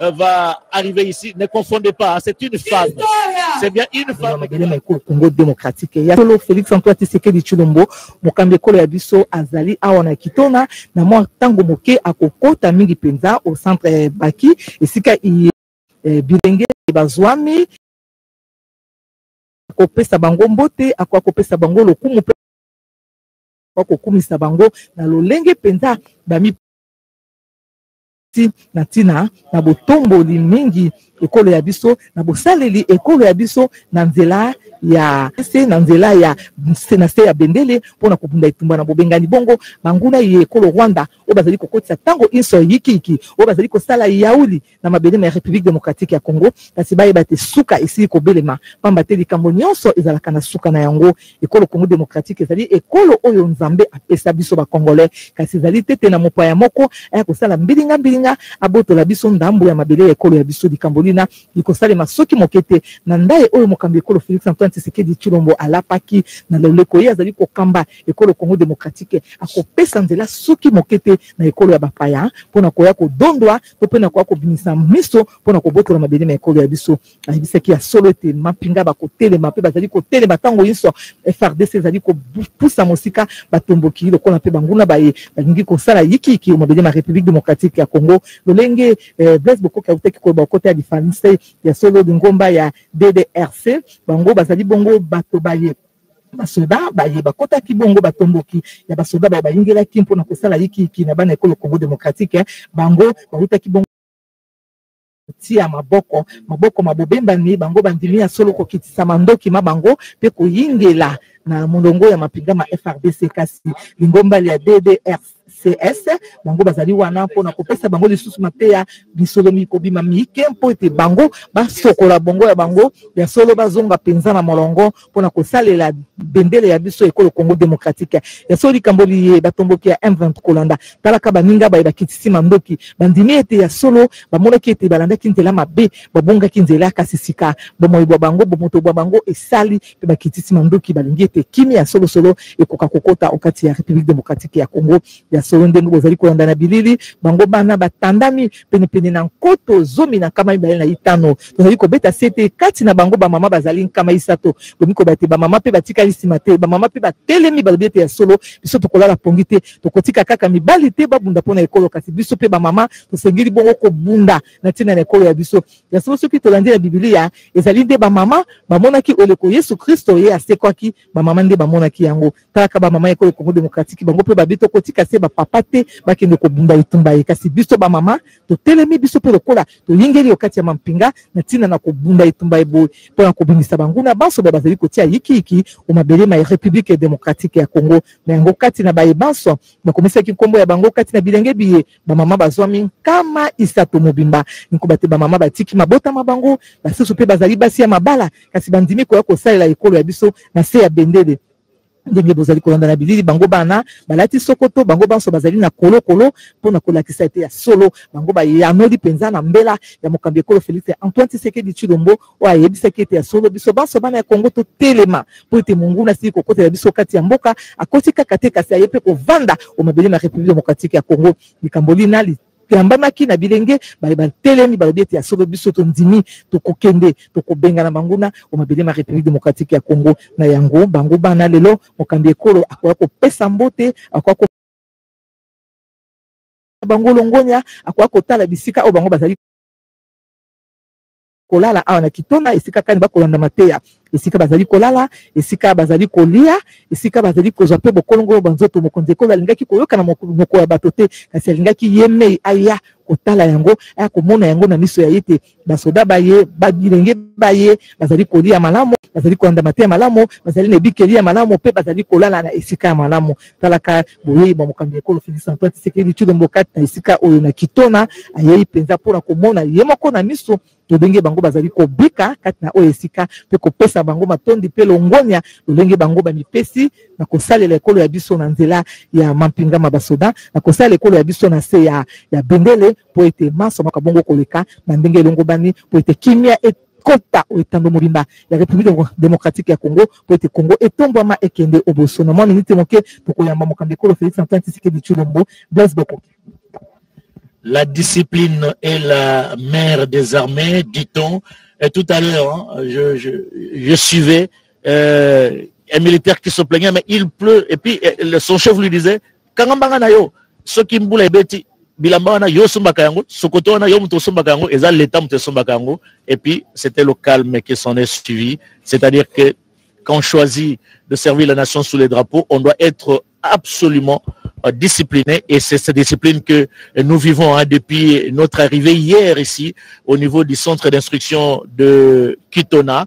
euh, va arriver ici. Ne confondez pas, hein, c'est une femme. C'est bien une femme. Madelema ekolo Congo démocratique. Ya solo Félix Antoine Tshisekedi Tshilombo, mokambi ekolo ya biso azali awa na Kitona na mwa tango moke akokota mingi mpenza au centre eh, Baki esika iye eh, bilenge bazwami akopesa bango mbote akoya kopesa bango lokumu mpe akokumisa bango na lolenge mpenza bami ti na ntina na botomboli mingi ekolo ya biso na bosaleli ekolo ya biso na nzela ya se na nzela ya se na se ya bendele mpo na kobunda etumba na bobengani bongo banguna ye ekolo rwanda oyo bazali kokotisa ntango inso yikiyiki oyo bazali kosala yauli na mabele ma ya république démocratique ya congo kasi bayeba te suka esili kobelema mpamba te likambo nyonso ezalaka na suka na yango ekolo congo démocratique ezali ekolo oyo nzambe apesa biso bacongolais kasi ezali te te na mopaya moko aya kosala mbilinga mbilinga abotola biso ndambo ya mabele ya ekolo ya biso likambo lina likosalema soki moke te na ndai oyo mokambi ekolo félix antoine tshisekedi tshilombo alapaki na loleko ye azali kokamba ekolo congo démocratique akopesa nzela soki moke te na ekolo ya bapaya mpo na koya kodondwa to mpe na koya kobimisa miso mpo na kobotola mabele ma ekolo ya biso ayebisaki ya solo ete mampinga bakotelema mpe bazali kotelema ntango nyonso frdc ezali kopusa mosika batomboki lokola mpe banguna baye balingi kosala yikiyiki omabele ma république démocratique ya congo lolenge eh, blaise bokoki autaki koyeba okota ya lifalanse ya solo lingomba ya ddrc bango bazali bongo bato baye basoda baye bakotaki bongo batomboki ya basoda baye bayingelaki mpo na kosala yikiyiki na bana ekolo congo démocratique eh, bango bautaki bongo kotia maboko maboko ma bobembani bango bandimi ya solo kokitisa mandoki ma bango mpe koyingela na molongo ya mapinga ma FRDC kasi lingomba lya DDRC cs bango bazali wana mpona kopesa bango lisusu mateya lisolo mikobima mike mpo ete bango basokola bongo ya bango ya solo bazonga mpenza na molongo mpo na kosalela bendele ya biso ekolo congo démocratique ya solo likambo liye batomboki ya m20 kolanda talaka baninga baye bakitisi mandoki bandimi ete ya solo bamonaki ete balandaki nzela mabe babongaki nzela kasi sika bomoi bwa bango bomoto bwa bango esali mpe bakitisi mandoki balingi ete kimi ya solosolo ekoka kokota okati ya république démocratique ya congo ya solo ndenge bozali kolanda na bilili bango bana batandami penepene na nkoto zomi na nkama mibale na itano tozali kobeta sete kati na bango bamama bazali nkama isato bomi koloba ete bamama mpe batikali nsima te bamama mpe batelemi balobi ete ya solo biso tokolala pongi te tokotika kaka mibali te babunda mpo na ekolo kasi biso mpe bamama tosengeli bongo kobunda na ntina na ekolo ya biso ya solo soki tolandi na bibilia ezali nde bamama bamonaki oleko yesu kristo ye asekwaki bamama nde bamonaki yango kaka bamama ekolo congo démocratique bango mpe babi tokotika se bapapa te bakende kobunda etumba ye kasi biso bamama totelemi biso mpe lokola toyingeli yo kati ya mampinga na ntina na kobunda etumba ye boye mpo na kobimisa banguna banso ba bazali kotia yikiyiki o mabele ma république démocratique ya congo na yango kati na baye banso bakomisaki nkombo ya bango kati na bilenge biye bamama bazwami nkama isato mobimba nkoba te bamama batiki mabota ma bango basusu mpe bazali basi ya mabala kasi bandimi koya kosalela ekolo ya biso na se ya bendele ndenge bozali kolanda na bilili bango bana balati sokoto bango banso bazali na kolokolo mpo na kolakisa ete ya solo bango bayanoli mpenza na mbela ya mokambi ekolo felix antoine tshisekedi tshilombo oyo ayebisaki ete ya solo biso banso bana ya kongo totelema mpo ete monguna asili kokotela biso kati ya mboka akoti kaka te kasi aye mpe kovanda o mabele ma république démocratique ya congo likambo lina toyambamaki na bilenge baye batelemi balobi ete ya solo biso tondimi tokokende tokobengana banguna o mabele ma république démocratique ya congo na yango bango bana lelo mokambi ekolo akoya kopesa mbote akoya ko bango longonya akoya kotala bisika oyo bango bazali kolala awa na kitona esika kani bakolanda mateya esika bazali kolala esika bazali kolia esika bazali kozwa mpe bokolongolo bwa nzoto mokonzi ekolo alingaki koyoka na moko ya bato te kasi alingaki ye mei aya kotala yango aya komona yango na miso ya ye te basoda baye bilenge baye bazali kolia malamu bazali kolanda mateya malamu bazali na ebikeli ya malamu mpe bazali kolala na esika ya malamu talaka boyei bwa mokambi ya ekolo Felix Antoine Tshisekedi Tshilombo kati na esika oyo na Kitona ayei mpenza mpo na komona ye moko na miso lolenge bango bazali kobika kati na oyo esika mpe kopesa bango matondi mpe longonya lolenge bango bamipesi na kosalela ekolo ya biso na nzela ya mampinga ma basoda na kosalela ekolo ya biso na se ya, ya bendele mpo ete manso makabongo koleka na ndenge elongobani mpo ete kimia et kota o etando mobimba ya Republiki Demokratiki ya Kongo mpo ete Kongo etombwama ekende oboso. Na mwa minite moke tokoyamba mokambi ekolo Felix Antoine Tshisekedi Tshilombo. Blaise Bokoki. La discipline est la mère des armées, dit-on. Et tout à l'heure, hein, je, je, je, suivais euh, un militaire qui se plaignait, mais il pleut. Et puis euh, son chef lui disait, kanga mbanga na yo soki mbula ebeti bilamba wana yo osombaka yango sokoto wana yo moto osombaka yango eza leta moto esombaka yango et puis c'était le calme qui s'en est suivi c'est-à-dire que quand on choisit de servir la nation sous les drapeaux on doit être absolument euh, discipliné et c'est cette discipline que nous vivons hein, depuis notre arrivée hier ici au niveau du centre d'instruction de Kitona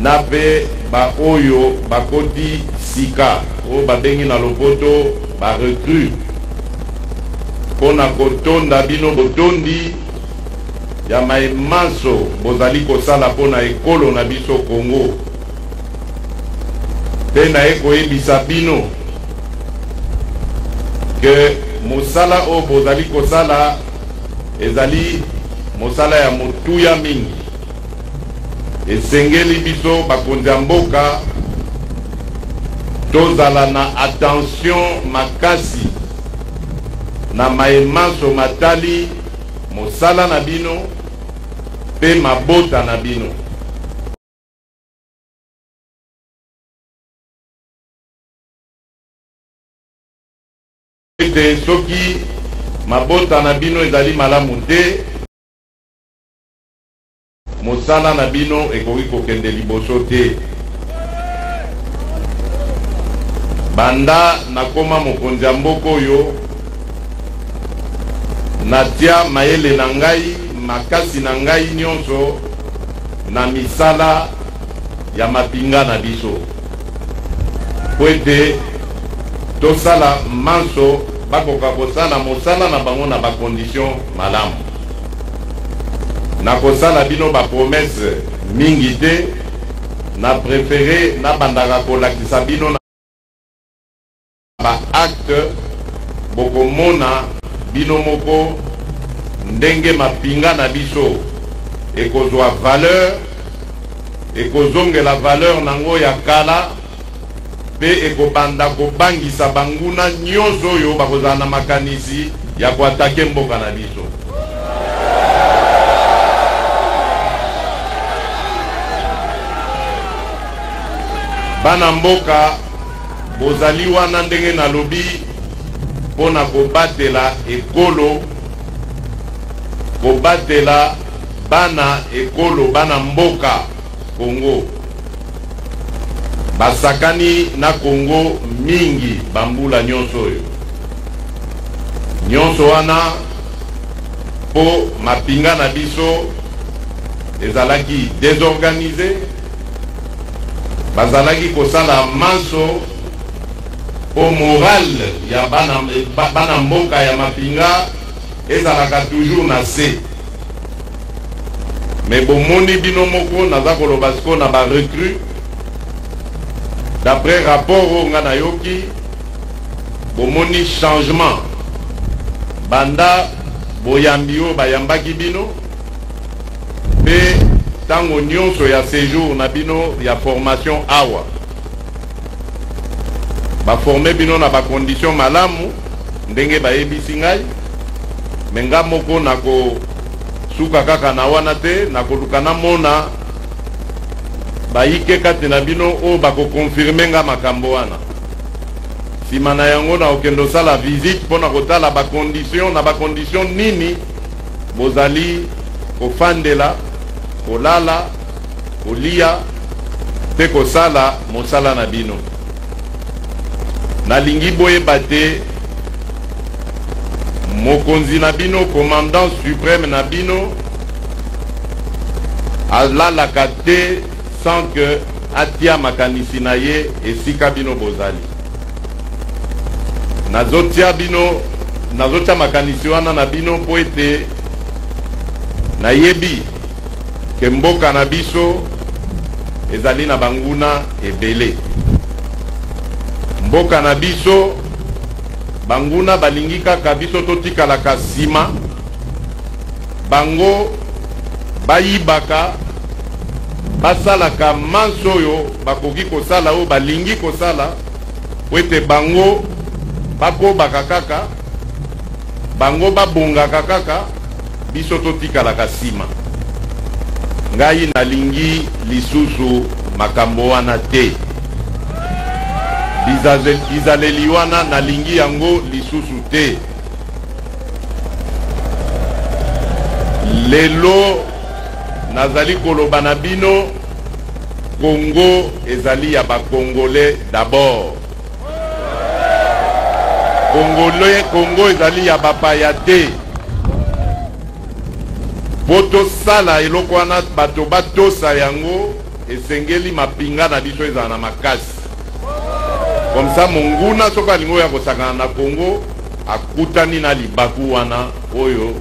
na pe ba oyo bakoti sika oyo babengi na lopoto ba recrues po na kotonda bino botondi ya maye manso bozali kosala po na ekolo na biso Congo pe naye koyebisa bino ke mosala oyo bozali kosala ezali mosala ya motuya mingi. Esengeli biso bakonzi ya mboka tozala na attention makasi na maye manso matali mosala na bino mpe mabota na bino. ete soki mabota na bino ezali malamu te Mosala na bino ekoki kokende liboso te. Banda nakoma mokonzi ya mboka oyo, natia mayele na ngai, makasi na ngai nyonso na misala ya mapinga na biso mpo ete tosala manso bakoka kosala mosala na bango na bakondisio malamu. Nakosala bino ba promesses mingi te, na prefere nabandaka kolakisa bino na ba actes, bokomona bino moko ndenge mapinga na biso ekozwa valeur, ekozongela valeur na yango ya kala. Mpe ekobanda kobangisa banguna nyonso oyo bakozala na makanisi ya ko attaquer mboka na biso. Bana mboka, bozali wana ndenge nalobi mpo na kobatela ekolo, kobatela bana ekolo, bana mboka. Congo. Basakani na Congo mingi bambula nyonso oyo. Nyonso wana mpo mapinga na biso ezalaki desorganize, bazalaki kosala manso mpo morale ya bana, bana mboka ya mapinga ezalaka toujours na se. Mais bomoni bino moko naza koloba sikoyo na ba recrues d'après rapport oyo nga nayoki bomoni changement banda boyambi oyo bayambaki bino mpe ntango nyonso ya sejour na bino ya formation awa Ba former bino na ba conditions malamu ndenge bayebisi ngai me nga moko nako suka kaka na wana te nakoluka namona bayike kati na bino oyo bakokonfirme nga makambo wana nsima na yango nakokende osala visite mpo na kotala bakondition na bakondition nini bozali kofandela kolala kolia mpe kosala mosala na bino. Nalingi boyeba te mokonzi na bino, commandant supreme na bino alalaka te sans que atia makanisi na ye esika bino bozali. Nazotia bino, nazotia makanisi wana na bino mpo ete nayebi que mboka na biso ezali na banguna ebele. Mboka na biso banguna balingi kaka biso totikalaka nsima, bango bayibaka basalaka manso oyo bakoki kosala oyo balingi kosala po ete bango bakobaka kaka bango babongaka kaka Biso to tikalaka sima. Ngai na lingi lisusu makambo wana te. Bizaleli wana na lingi yango lisusu te. Lelo nazali koloba na bino Congo ezali ya ba Congolais d'abord. kongole kongo ezali ya bapaya te mpo tosala eloko wana bato batosa yango esengeli mapinga na biso ezala na makasi komsa monguna soki alingi oyo akosakana na kongo akutani na libaku wana oyo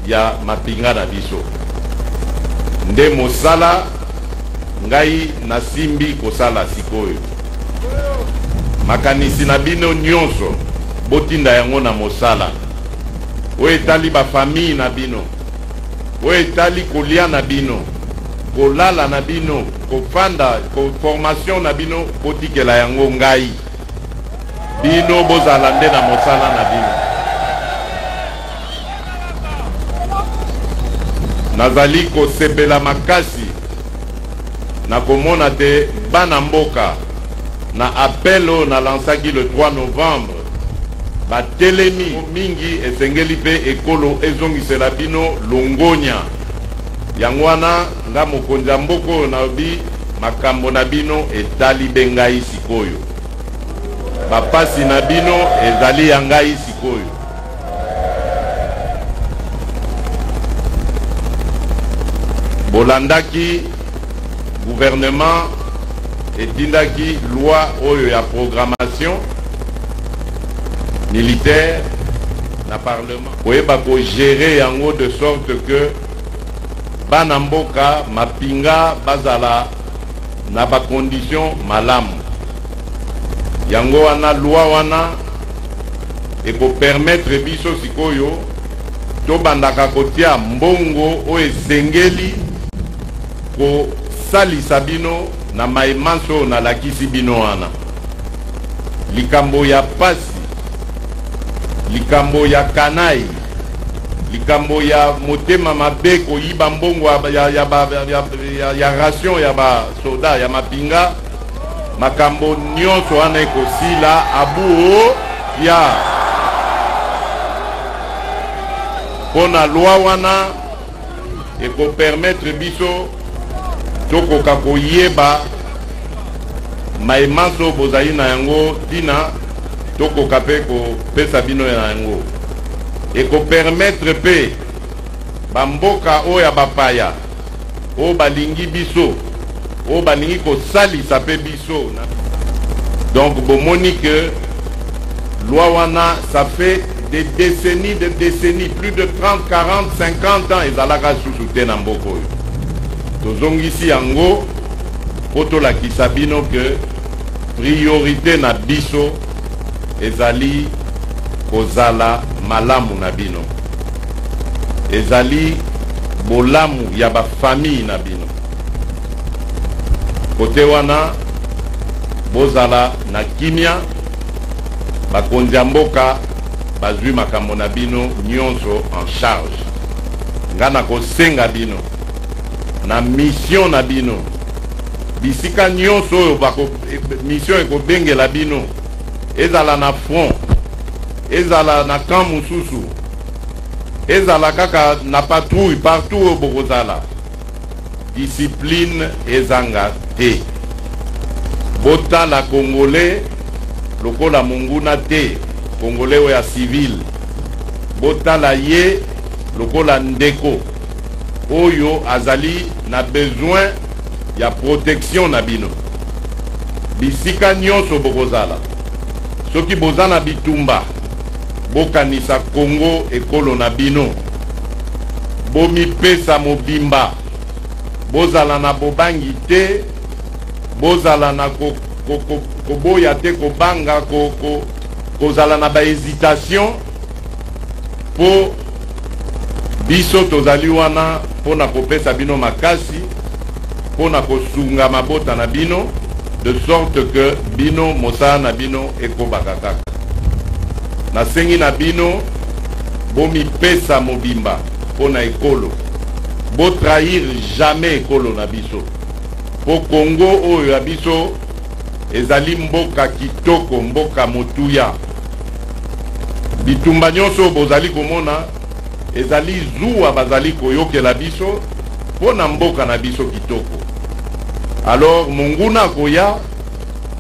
ya mapinga na biso nde mosala ngai nasimbi kosala sikoyo Makanisi na bino nyonso botinda yango na mosala oyo etali bafamille na bino, oyo etali kolia na bino, kolala na bino, kofanda, formation na bino, botikela yango ngai. Bino bozala nde na mosala na bino. Nazali kosepela makasi Nakomona te bana mboka na appel oyo na lansaki le 3 novembre batelemi mingi esengeli pe ekolo ezongisela bino longonya yango wana nga mokonzi ya mboka oyo nalobi makambo na bino etali be ngai sikoyo bapasi na bino ezali ya ngai sikoyo. bolandaki gouvernement etindaki loi oyo ya programmation militaire na parlement koyeba kogere yango de sorte que bana mboka mapinga bazala na bacondition malamu Yango wana loi wana eko permettre biso sikoyo tobandaka kotia mbongo oyo esengeli kosalisa bino na maye manso oyo nalakisi bino wana. Likambo ya pasi, likambo ya kanayi, likambo ya motema mabe koyiba mbongo ya, ya, ya, ya, ya, ya, ya ration ya ba soda ya mapinga makambo nyonso wana ekosila abuo ya mpo na lwa wana ekopermetre biso tokoka koyeba mai manso bozali na yango ntina tokoka mpe kopesa bino na yango ekopermetre mpe bamboka oyo ya bapaya oyo balingi biso oyo balingi kosalisa mpe biso na donc bomoni que loi wana ça fait des décennies de décennies plus de 30 40 50 ans ezalaka susu te na mboka oyo tozongisi yango mpo tolakisa bino que priorité na biso ezali kozala malamu na bino, ezali bolamu ya ba famille na bino. Kote wana bozala na kimia, bakonzi ya mboka bazwi makambo na bino nyonso en charge. Nga nakosenga bino na mission na bino bisika nyonso oyo bako Mission ekobengela bino ezala na front ezala na camp mosusu ezala kaka na patrouille partout oyo bokozala discipline ezanga te botala congolais lokola monguna te congolais oyo ya civile botala ye lokola ndeko oyo azali na besoin ya protection na bino bisika nyonso bokozala. Soki boza na bitumba, bokanisa Congo ekolo na bino. Bomipesa mobimba, bozala na bobangi te, bozala na ko, ko, ko, koboya te, kobanga, ko, ko, kozala na ba hesitation mpo biso tozali wana mpo na kopesa bino makasi mpo na kosunga mabota na bino de sorte que bino mosala na bino ekobaka kaka nasengi na bino bomipesa mobimba mpo na ekolo botrahir jamais ekolo na biso mpo kongo oyo ya biso ezali mboka kitoko mboka motuya Bitumba nyonso oyo bozali komona ezali zuwa bazali koyokela biso mpo na mboka na biso kitoko. Alors monguna akoya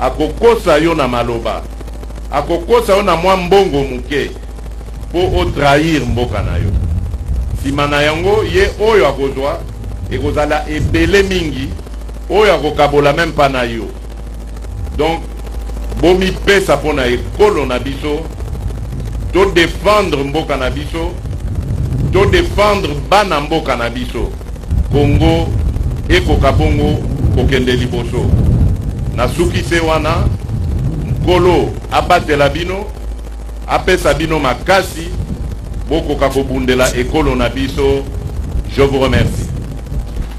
akokosa yo na maloba, akokosa yo na mwa mbongo moke mpo o trahir mboka na yo. Nsima na yango ye oyo akozwa ekozala ebele mingi oyo akokabola meme mpa na yo. donc bomipesa mpo na ekolo na biso to defendre mboka na biso to defendre bana mboka na biso kongo ekoka bongo kokende liboso nasuki se wana nkolo abatela bino apesa bino makasi bokoka kobundela ekolo na biso je vous remercie